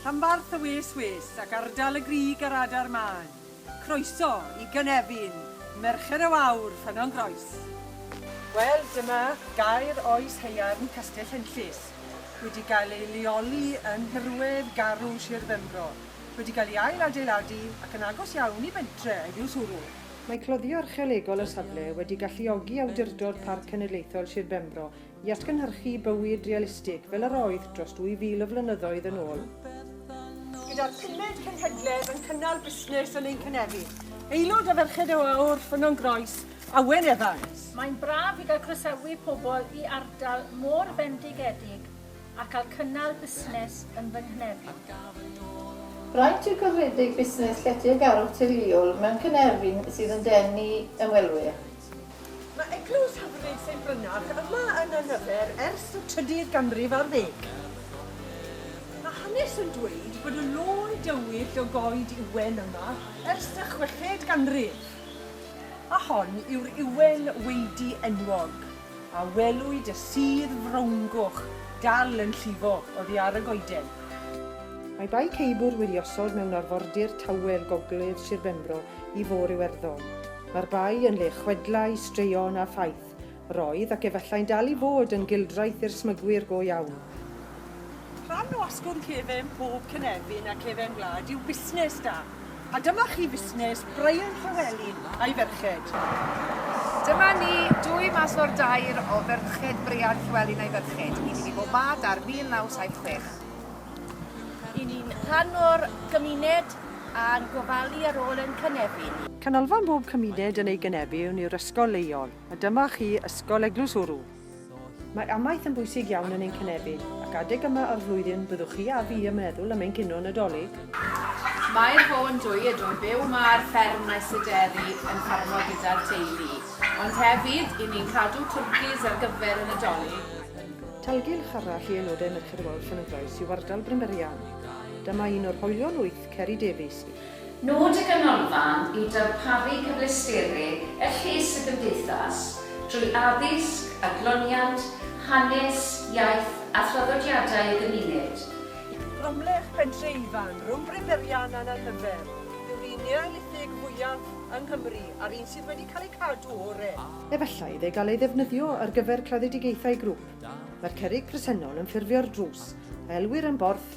Rhanbarth y wes wes ac ardal y grig ar adar mân. Croeso i gynefin Merched y Wawr, Ffynnon Groes. Wel, dyma gaer oes haearn Castell Henllys, wedi gael ei leoli yn nhirwedd garw Sir Benfro, wedi cael ei ail-adeiladu ac yn agos iawn i bentre Eifiws Wrw. Mae cloddio archeolegol y safle wedi galluogi Awdurdod Parc Cenedlaethol Sir Benfro i atgynhyrchu bywyd realistig fel yr oedd dros 2,000 o flynyddoedd yn ôl. Gyda'r pumed cenhedledd yn cynnal busnes yn ein cynefin, aelod o Ferched y Wawr, Ffynnon Groes, Awen Evans. Mae'n braf i gael croesawu pobl i ardal mor fendigedig a cael cynnal busnes yn fy nghynefin. Braint yw cyfredeg busnes lletygarwch teuluol mewn cynefin sydd yn denu ymwelwyr. Mae Eglwys hyfryd Saint Brynach yma yn Angyffer ers y trydydd ganrif ar ddeg. Mae hanes yn dweud bod y lôn dywyll o goed ywen yma ers y chweched ganrif, a hon yw'r ywen weidi enwog. a welwyd y sudd frowngoch dal yn llifo oddi ar y goeden. Mae Bae Ceibwrdd wedi osod mewn arfordir tawel gogledd Sir Benfro i Fôr Iwerddon. Mae'r bae yn le chwedlau, straeon a phaith. Roedd, ac efallai'n dal i fod, yn gildraeth i'r smygwyr go iawn. Rhan o asgwrn cefen pob cynefin a cefen gwlad yw busnes da. A dyma chi fusnes Brian Llewelyn a'i ferched. Dyma ni, dwy mas o'r dair o ferched Brian Llewelyn a'i ferched. Ni wedi bod ma dar 1976. I ni'n rhan o'r gymuned a'n gofalu ar ôl ein cynefin. Canolfan bob cymuned yn ei gynefin yw'r ysgol leol, a dyma chi Ysgol Eglwys Wrw. Mae amaeth yn bwysig iawn yn ein cynefin, ac adeg yma o'r flwyddyn byddwch chi a fi yn meddwl am ein cinio Nadolig. Mae'r Bô yn dwy edro'n byw ma ar fferm Maes y Deri yn ffarmo gyda'r teulu, ond hefyd i ni'n cadw twrcis ar gyfer y Nadolig. Talgylch arall i aelodau Merched y Wawr Llanidloes yw ardal Brynberian. Dyma un o'r hoelion wyt. Ceri Davies. Nod y Ganolfan yw darparu cyfleusterau er lles y gymdeithas drwy addysg, adloniant, hanes, iaith a thraddodiadau y gymuned. Cromlech, Pentre Ifan, Rhwng Bryn Berrian a'n Anhyfel, yw'r un Neolithig fwyaf yng Nghymru a'r un sydd wedi cael ei cadw o'r re. Efallai iddo gael ei ddefnyddio ar gyfer claddedigaethau grŵp. Mae'r cerrig presennol yn ffurfio'r drws, a elwir yn Borth